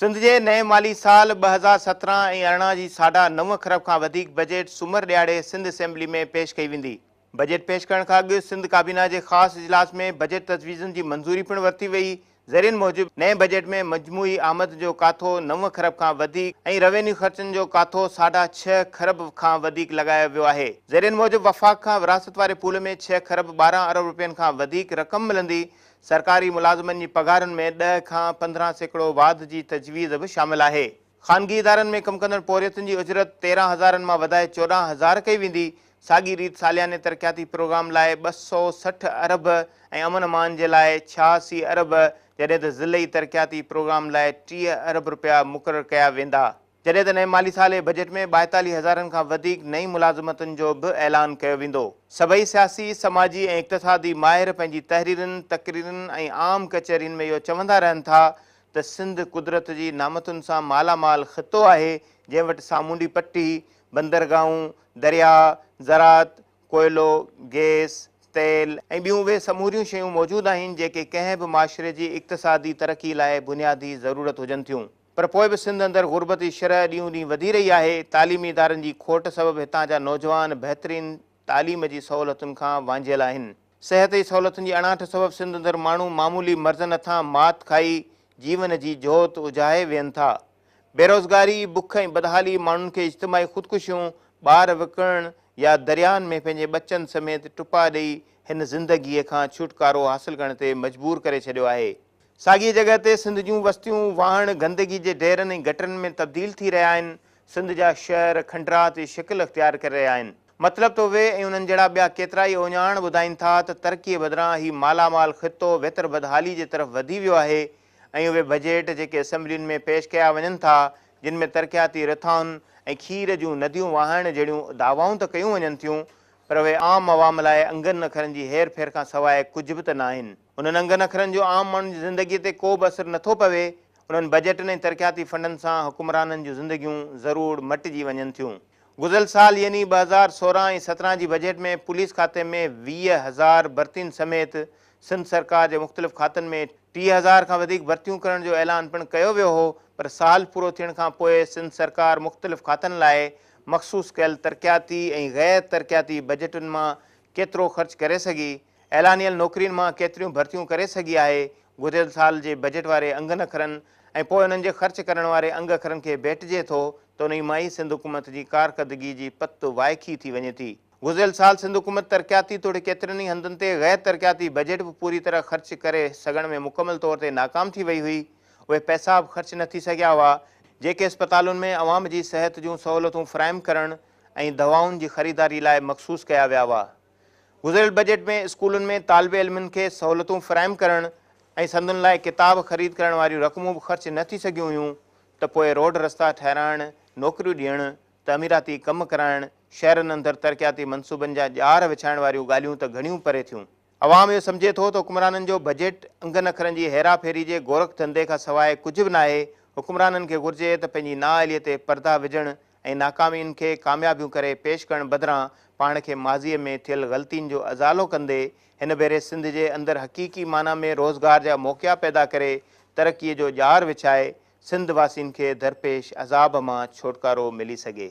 سنڌ جي نئين مالي سال ٻه هزار سترهن ۽ ارڙهن جي ساڍا نو کرب کان وڌيڪ بجيٽ سومر ڏهاڙي سنڌ اسيمبلي ۾ پيش ڪئي ويندي. بجيٽ پيش ڪرڻ کان اڳ سنڌ ڪابينا جي خاص اجلاس ۾ بجيٽ تجويزن جي منظوري پڻ ورتي وئي، ذريعن موجب نئين بجيٽ ۾ مجموعي آمد جو ڪاٿو نو کرب کان وڌيڪ ۽ روينيو خرچن جو ڪاٿو ساڍا ڇهه کرب کان وڌيڪ لڳايو ويو آهي، ذريعن موجب وفاق کان وراثت واري پول ۾ ڇهه کرب ٻارهن ارب رپين کان وڌيڪ رقم ملندي، سرڪاري ملازمن جي پگهارن ۾ ڏهه کان پندرهن سيڪڙو واڌ جي تجويز به شامل آهي. خانگي ادارن ۾ ڪم ڪندڙ پورهيتن جي اجرت تيرهن هزارن مان وڌائي چوڏهن هزار ڪئي ويندي، ساڳي ريت سالياني ترقياتي پروگرام لاء ٻه سؤ سٺ ارب ۽ امن امان جي لاء ڇهاسي ارب جڏهن ته ضلعي ترقياتي پروگرام لاء ٽيهه ارب رپيا مقرر ڪيا ويندا. جڏهن ته نئين مالي سال جي بجيٽ ۾ ٻائيتاليهه هزارن کان وڌيڪ نئين ملازمتن جو به اعلان ڪيو ويندو. سڀئي سياسي، سماجي ۽ اقتصادي ماهر پنهنجي تحريرن، تقريرن ۽ عام ڪچهرين ۾ اهو چوندا رهن ٿا ته سنڌ قدرت جي نعمتن سان مالا مال خطو آهي، جنهن وٽ سامونڊي پٽي، بندرگاهون، درياء، زراعت، ڪوئلو، گيس، تيل ۽ ٻيون اهي سموريون شيون موجود آهن، جيڪي ڪنهن به معاشري جي اقتصادي ترقي لاء بنيادي ضرورت هجن ٿيون. پر پوء به سنڌ اندر غربت جي شرح ڏينهون ڏينهن وڌي رهي آهي، تعليمي ادارن جي کوٽ سبب هتان جا نوجوان بهترين تعليم جي سهولتن کان وانجهيل آهن. صحت جي سهولتن جي اڻاٺ سبب سنڌ اندر ماڻهو معمولي مرضن هٿان مات کائي جيون جي جهوت اجهائي ويهن ٿا. بيروزگاري، بک ۽ بدحالي ماڻهن کي اجتماعي خودڪشيون، ٻار وڪڻڻ يا درياهن ۾ پنهنجي ٻچن سميت ٽپا ڏئي هن زندگيء کان ڇوٽڪارو حاصل ڪرڻ تي مجبور ڪري ڇڏيو آهي. ساڳيء جڳهه تي سنڌ جون وستيون واهڻ، گندگي جي ڍيرن ۽ گٽرن ۾ تبديل ٿي رهيا آهن. سنڌ جا شعر کنڊراتي شڪل اختيار ڪري رهيا آهن. مطلب ته اهي ۽ انهن جهڙا ٻيا ڪيترائي اوڃاڻ ٻڌائين ٿا ته ترقيء بدران هي مالا مال خطو ويتر بدحالي جي طرف وڌي ويو آهي ۽ اهي بجيٽ جيڪي اسيمبلين ۾ پيش ڪيا وڃن ٿا جن ۾ ترقياتي رٿائن ۽ کير جون نديون وهائڻ جهڙيون دعوائون ته ڪيون وڃن ٿيون پر اهي عام عوام لاء انگن اکرن جي هير ڦير کان سواء ڪجهه به ته ناهن. انهن انگن اکرن جو عام ماڻهن جي زندگيء تي ڪو به اثر نه ٿو پوي، انهن بجيٽن ۽ ترقياتي فنڊن سان حڪمرانن جون زندگيون ضرور مٽجي وڃن ٿيون. گذريل سال يعني ٻه هزار سورهن ۽ سترهن جي بجيٽ ۾ پوليس کاتي ۾ ويهه هزار ڀرتين سميت سنڌ سرڪار جي مختلف کاتن ۾ ٽيهه هزار کان وڌيڪ ڀرتيون ڪرڻ جو اعلان پڻ ڪيو ويو هو پر سال پورو ٿيڻ کان پوء سنڌ سرڪار مختلف کاتن لاء مخصوص ڪيل ترقياتي ۽ غير ترقياتي بجيٽن مان ڪيترو خرچ ڪري سگهي اعلانيل نوڪرين مان ڪيتريون ڀرتيون ڪري سگهي آهي، گذريل سال جي بجيٽ واري انگن اکرن ۽ پوء انهن جي خرچ ڪرڻ واري انگ اکرن کي ڀيٽجي ٿو ته انهي مان ئي سنڌ حڪومت جي ڪارڪردگي جي پت وائکي ٿي وڃي ٿي. گذريل سال سنڌ حڪومت ترقياتي توڙي ڪيترن ئي هنڌن تي غير ترقياتي بجيٽ به پوري طرح خرچ ڪري سگهڻ ۾ مڪمل طور تي ناڪام ٿي وئي هئي، اهي پئسا به خرچ نه ٿي سگهيا هئا، جيڪي اسپتالن ۾ عوام جي صحت جون سهولتون فراهم ڪرڻ ۽ دوائن جي خريداري لاء مخصوص ڪيا ويا هئا. گذريل بجيٽ ۾ اسڪولن ۾ طالب علمن کي سهولتون فراهم ڪرڻ ۽ سندن لاء ڪتاب خريد ڪرڻ واريون رقمون به خرچ نه ٿي سگهيون هيون ته پوء روڊ رستا ٺهرائڻ، نوڪريون ڏيڻ، تعميراتي ڪم ڪرائڻ، شهرن اندر ترقياتي منصوبن جا ڄار وڇائڻ واريون ڳالهيون ته گهڻيون پري ٿيون. عوام اهو سمجهي ٿو ته حڪمرانن جو بجيٽ انگن اکرن جي هيرا ڦيري جي گورک ڌنڌي کان سواء ڪجهه به ناهي، حڪمرانن کي گهرجي ته پنهنجي نااهلي تي پردا وجهڻ ۽ ناڪامين کي ڪاميابيون ڪري پيش ڪرڻ بدران پاڻ کي ماضيء ۾ ٿيل غلطين جو ازالو ڪندي هن ڀيري سنڌ جي اندر حقيقي معنيٰ ۾ روزگار جا موقعا پيدا ڪري ترقيء جو ڄار وڇائي سنڌ واسين کي درپيش عذاب مان ڇوٽڪارو ملي سگهي.